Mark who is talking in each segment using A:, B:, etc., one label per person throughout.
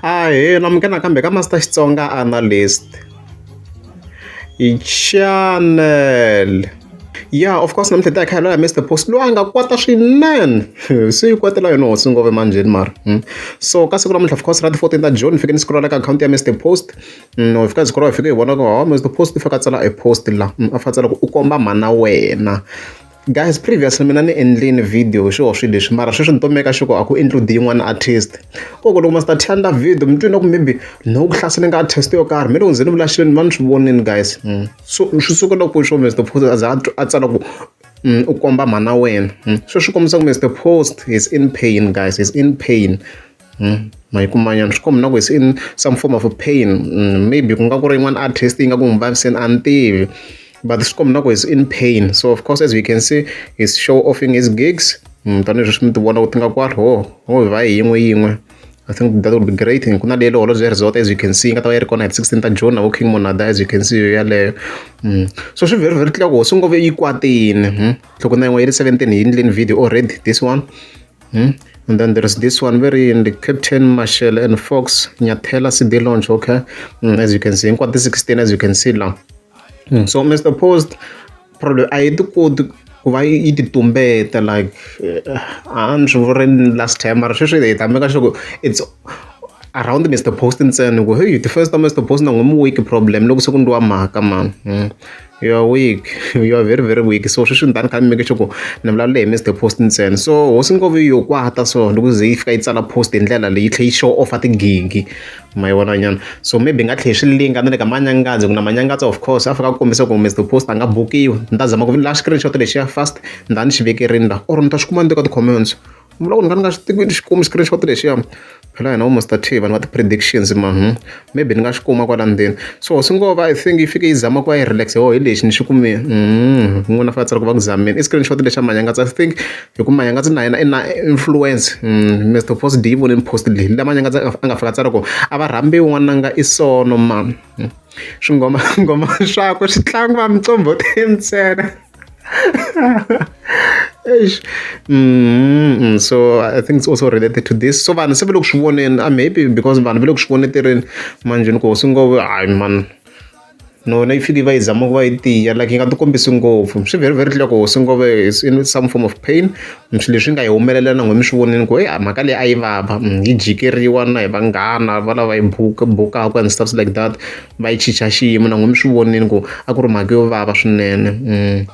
A: Ahee amuka nakambe ka Master Xitsonga Analyst. Chanele ya of course namuntlha hi ta hi kha hi lwa na Mister Post loyi a nga kwata swinene swi yi kwatela yona hosi ngove manjheni mara so ka siku namuntlha of course ra ti-fourteen ta June ni fike ni scroll-a ka akhawunti ya Mister Post no hi fika hi scroll-a hi fike hi vona ku hawa Mister Post i fake a tsala e post la a fika a tsala ku u komba mhana wena. Guys previously mina ni endlini video hi swiho swilo leswi mara sweswi ni tomeka xi ku a ku include yin'wana artist ko ku loko ma start handla video mi twi na ku maybe no ku hlasele nga artist yo karhi mi loko ndzi ni vula xilo ni va ni swi vonini guys hmm. so swi suka loko swo Mr Post a za a tsala ku hmm, u komba mhana wena hmm. sweswi kombisa ku Mr Post is in pain guys is in pain Hmm? mayiku manyana swi kombi na ku se in some form of pain hmm, maybe ku nga ku ri yin'wana artist yi nga ku n'wi vaviseni a ni tivi but swi kombi na ku is in pain so of course as we can see is show offing his gigs hmm, tanihileswi swi mi ti vona ku ti nga kwari ho ho hi va hi yin'we yin'we I think that would be great ku na leyi leholo bya resort as you can see yi nga ta va yi ri kona hi 16 ta june navo king monada as you can see yo yaleyo so swi very very tlula ku hosi ngove yi kwatini loko na yin'we yi ri 17 yi endleni video already this one Hmm? And then there's this one very in the Captain Marshall and Fox Nyathela CD launch, okay? Mm, as you can see, in quarter 16, as you can see now. Mm, so Mr. Post, probably I do code ku va yi ti tumbeta like eh, a ni swi vuri last time mara sweswi hi ta meka sure ku it's around mr post ntsena ku hey the first time mr post na n'wi mu week problem loko se ku ndliwa mhaka mani hmm. you are weak you are very very weak so sweswi ni ta ni kha ni make sure ku ni vulavule hi Mister Post ntsena so hosi Nkovo yi yo kwata so loko ku ze yi fika yi tsala post hi ndlela leyi tlhe yi show off tigigi ma yi vona nyana so maybe nga tlhe swi linga ni le ka manyangadzo ku na manyangadzo of course a fika ku kombisa ku Mister Post a nga bukiwi ni ta zama ku la screenshot lexiya fast ni ta ni xi vekerini la or ni ta xi kuma ni teka ti-comments ni vula ku ni kha ni nga swi tivi ni xi kumi screenshot lexiya phela hina vo master t vanhu va ti-predictions man hmm? maybe ni nga xi kuma kwala ndzeni so swi ngo va i think yi fike yi zama ku va yi relax ho hi lexi ni xi kumile hmm, n'wina fa tsala ku va ku zamini i screenshot lexi a manyangatsi i think hi ku manyangatsi na yena i na influence hmm, mr post d yi vonini post leyi la manyangatsi a nga fika tsala ku a va rhambi n'wananga i sono ma swingoma ngoma swakwe swi tlangiwa micombo ti ntsena mm, so i think it's also related to this so vanhu se ve le ku swi voneni a ah, maybe because vanhu ve le ku swi voneterini manje ni ku hosi ngo hayi man nona yi fike yi va yi zama ku va yi tiya like yi nga ti kombisi ngopfu swi very very clear ku hosi ngove is in some form of pain ni swilo leswi nga hi humelela na n'wina mi swi vonile ku a mhaka leyi a yi vava hi jikeriwa na hi vanghana va lava hi bukaka and stuff like that va yi chicha xiyimo na n'wina mi swi vonile ku a ku ri mhaka yo vava swinene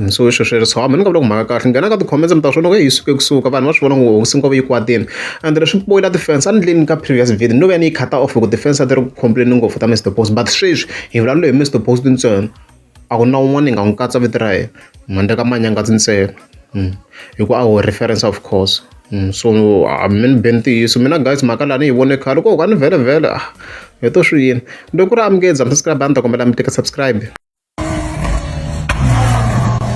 A: so i swilo swi ri so hambi ni nga vula ku mhaka kahle nghena ka ti-comments mi ta swona ku yi suke kusuka vanhu va swi vona ngo hosi nkova yi kwatile and leswi poyila ti-fans a ni ndleni ka previous video no va ni yi khata off hi ku ti-fans a ti ri ku complain ngopfu ta Mister Boss but sweswi hi vulavula hi Mister Boss ntsena. A ku na un'wana ni nga n'wi katsa vito ra yena handle ka Manyangazi ntsena hi ku a ho reference of course so a mi ni be ntiyiso mina guys mhaka la ni yi vone khale ku a ni vhelemvhele a hi to swi yini loko ku ri a mi nge za mi subscribe a ni ta kombela mi tika subscribe.